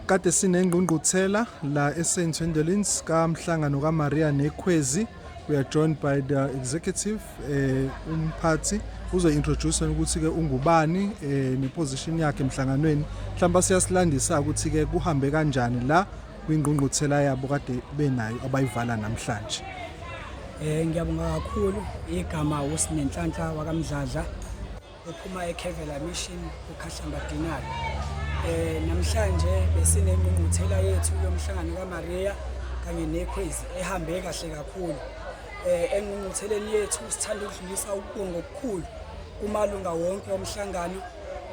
Kade sinengqungquthela la eSt Swendelins kamhlangano kaMaria neKhwezi we are joined by the executive eh umphathi uzointroduce ukuthi ke ungubani eh neposition yakhe emhlanganweni mhlawumbe siyasilandisa ukuthi ke kuhambe kanjani la kwingqungquthela yabo kade benayo abayivala namhlanje eh ngiyabonga kakhulu igama uSinenhlanhla wakamdladla ephuma eKevela Mission eKhahlamba Dinari. Eh namhlanje besinengqungquthela yethu yomhlangano kaMaria kanye neKhwezi ehambe kahle kakhulu. Eh engqungqutheleni yethu sithanda ukudlulisa ukubonga okukhulu kumalunga wonke omhlangano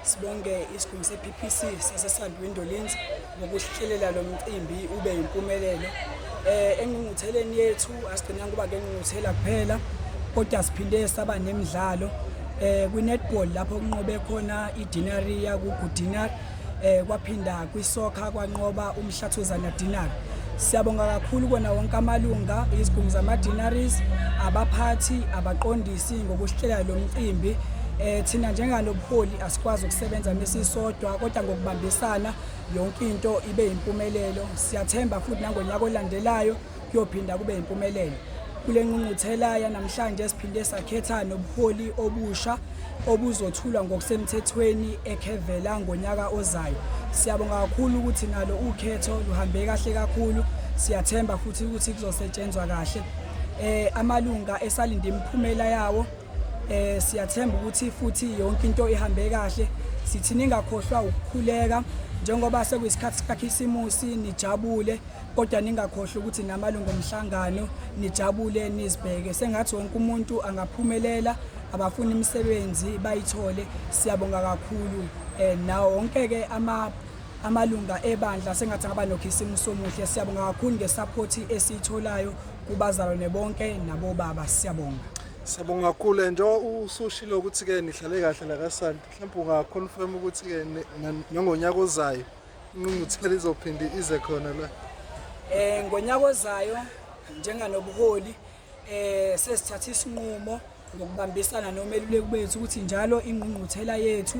sibonge isigungu sePPC sasesandwini Dolinzi ngokuhlelela lo mcimbi ube yimpumelelo eh engqungqutheleni yethu asigcina kuba ke ngqungquthela kuphela kodwa siphinde saba nemidlalo eh kwi-netball lapho kunqobe khona i-dinaria kugudinar eh kwaphinda kwisoccer kwanqoba umhlathuzana dinar siyabonga kakhulu kona wonke amalunga izigungu zama-dinaries abaphathi abaqondisi ngokuhlela lo mcimbi eh thina njengalobuholi asikwazi ukusebenza mesisodwa kodwa ngokubambisana yonke into ibe yimpumelelo siyathemba futhi nangonyaka olandelayo kuyophinda kube yimpumelelo kule nqungquthela yanamhlanje siphinde sakhetha nobuholi obusha obuzothulwa ngokusemthethweni ekhevela ngonyaka ozayo siyabonga kakhulu ukuthi nalo ukhetho luhambe kahle kakhulu siyathemba futhi ukuthi kuzosetshenzwa kahle eh amalunga esalinde imiphumela yawo Eh siyathemba ukuthi futhi yonke into ihambe kahle. Sithi ningakhohlwa ukukhuleka njengoba sekuyisikhathi sikaKhisimusi nijabule kodwa ningakhohlwa ukuthi namalungu omhlangano nijabule nizibheke sengathi wonke umuntu angaphumelela abafuna imisebenzi bayithole siyabonga kakhulu eh nawo wonke ke ama amalunga ebandla sengathi ngaba nokhisimuso omuhle siyabonga kakhulu ngesupport esiyitholayo kubazalwane bonke nabobaba siyabonga Siyabonga kakhulu njengoba usushilo ukuthi-ke nihlale kahle la kasanti mhlawumbe ungaconfirm ukuthi-ke nangonyaka ozayo inqunguthela izophinde ize khona la um ngonyaka ozayo njenganobuholi um sesithatha isinqumo ngokubambisana nomeluleki bethu ukuthi njalo ingqungquthela yethu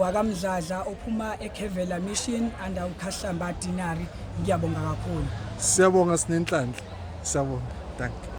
wakamdladla ophuma ekhevela mission under ukhahlamba dinari ngiyabonga kakhulu siyabonga sinenhlanhla siyabonga danke